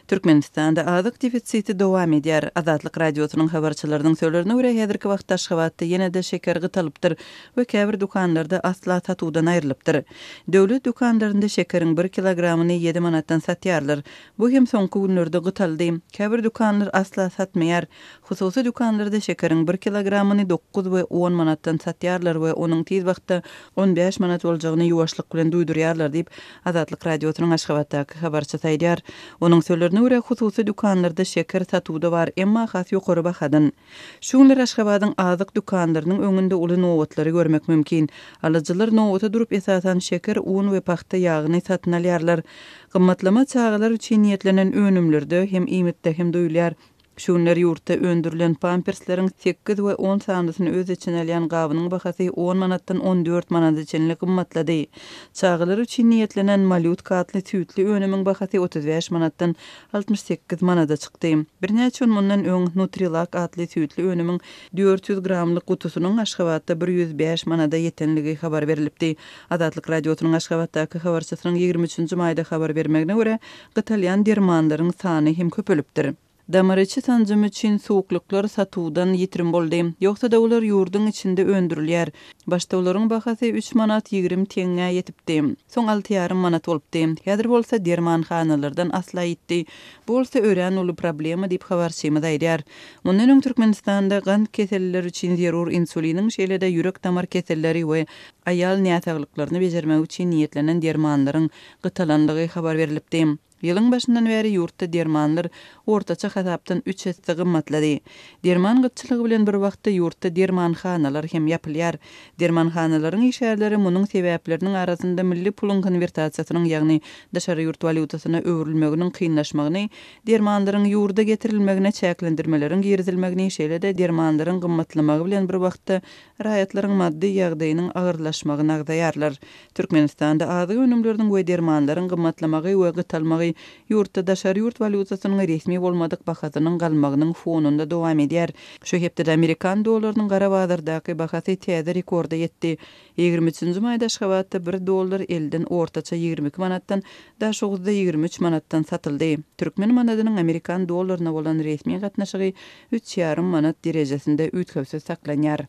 Türkmenistanda azyk defisiti dowam edýär. Azatlyk Radiosynyň habarçylarynyň sölerine görä, häzirki wagtda Aşgabatda ýene-de şeker gytalypdyr we käbir dükanlarda asla satuwdan aýrylypdyr. Döwlet dükanlarynda şekeriň bir kilogramyny ýedi manatdan satýarlar. Bu hem soňky günlerde gytaldy. Käbir dükanlar asla satmaýar. Hususy dükanlarda şekeriň bir kilogramyny dokuz we on manatdan satýarlar we onuň tiz wagtda on bäş manat boljagyny ýuwaşlyk bilen duýdurýarlar diýip, Azatlyk Radiosynyň Aşgabatdaky habarçysy aýdýar, onuň sözlerine görä, hususy dükanlarda şeker satuwda bar, emma has ýokary bahadan. Şu günler Aşgabadyň azyk dükanlarynyň öňünde uly nobatlary görmek mümkin. Alyjylar nobata durup, esasan, şeker, un we pagta ýagyny satyn alýarlar. Gymmatlama çagalar üçin niýetlenen önümlerde hem iýmitde hem duýulýar. Şu günler ýurtda öndürilen pampersleriň sekiz we on sanysyny öz içine alýan gabynyň bahasy on manatdan on dört manada çenli gymmatlady. Çagalar üçin niýetlenen malýutka atly süýtli önümiň bahasy otuz bäş manatdan altmyş sekiz manada çykdy. Birnäçe gün mundan öň Nutrilak atly süýtli önümiň dört ýüz gramlyk gutusynyň Aşgabatda bir ýüz bäş manada ýetenligi habar berlipdi. Azatlyk Radiosynyň Aşgabatdaky habarçysynyň ýigrimi üçünji maýda habar bermegine görä, gytalýan dermanlaryň sany hem köpelipdir. Damariçi sanjymy üçin suwuklyklar satuwdan ýitirim boldy. Ýogsa-da olar ýurduň içinde öndürilýär. Başda olaryň bahasy üç manat ýigrimi teňňä ýetipdi. Soň alty ýarym manat bolupdy. Häzir bolsa dermanhanalardan asla ýitdi. Bu bolsa örän uly problema diýip habarçymyz aýdýar. Mundan öň Türkmenistanda gant keselliler üçin zerur insuliniň şeýle-de ýürek-damar keselleri we aýal näsaglyklaryny bejermek üçin niýetlenen dermanlaryň gytalandygy habar berlipdi. Ýylyň başyndan bäri ýurtda dermanlar ortaça hasapdan üç esse gymmatlady. Derman gytçylygy bilen bir wagtda ýurtda dermanhanalar hem ýapylýar. Dermanhanalaryň işgärleri munuň sebäpleriniň arasynda milli puluň konwertasiýasynyň, ýagny daşary ýurt walýutasyna öwrülmeginiň kynlaşmagyny, dermanlaryň ýurda getirilmegine çäklendirmeleriň girizilmegini, şeýle-de dermanlaryň gymmatlamagy bilen bir wagtda raýatlaryň maddy ýagdaýynyň agyrlaşmagyny agzaýarlar. Türkmenistanda azyk önümleriniň we dermanlaryň gymmatlamagy we gytalmagy ýurtda daşary ýurt walýutasynyň resmi bolmadyk bahasynyň galmagynyň fonunda dowam edýär. Şu hepdede amerikan dollarynyň gara bazardaky bahasy täze rekorda ýetdi. Ýigrimi üçünji maýda Aşgabatda bir dollar elden ortaça ýigrimi iki manatdan, Daşoguzda ýigrimi üç manatdan satyldy. Türkmen manadynyň amerikan dollaryna bolan resmi gatnaşygy üç ýarym manat derejesinde üýtgewsiz saklanýar.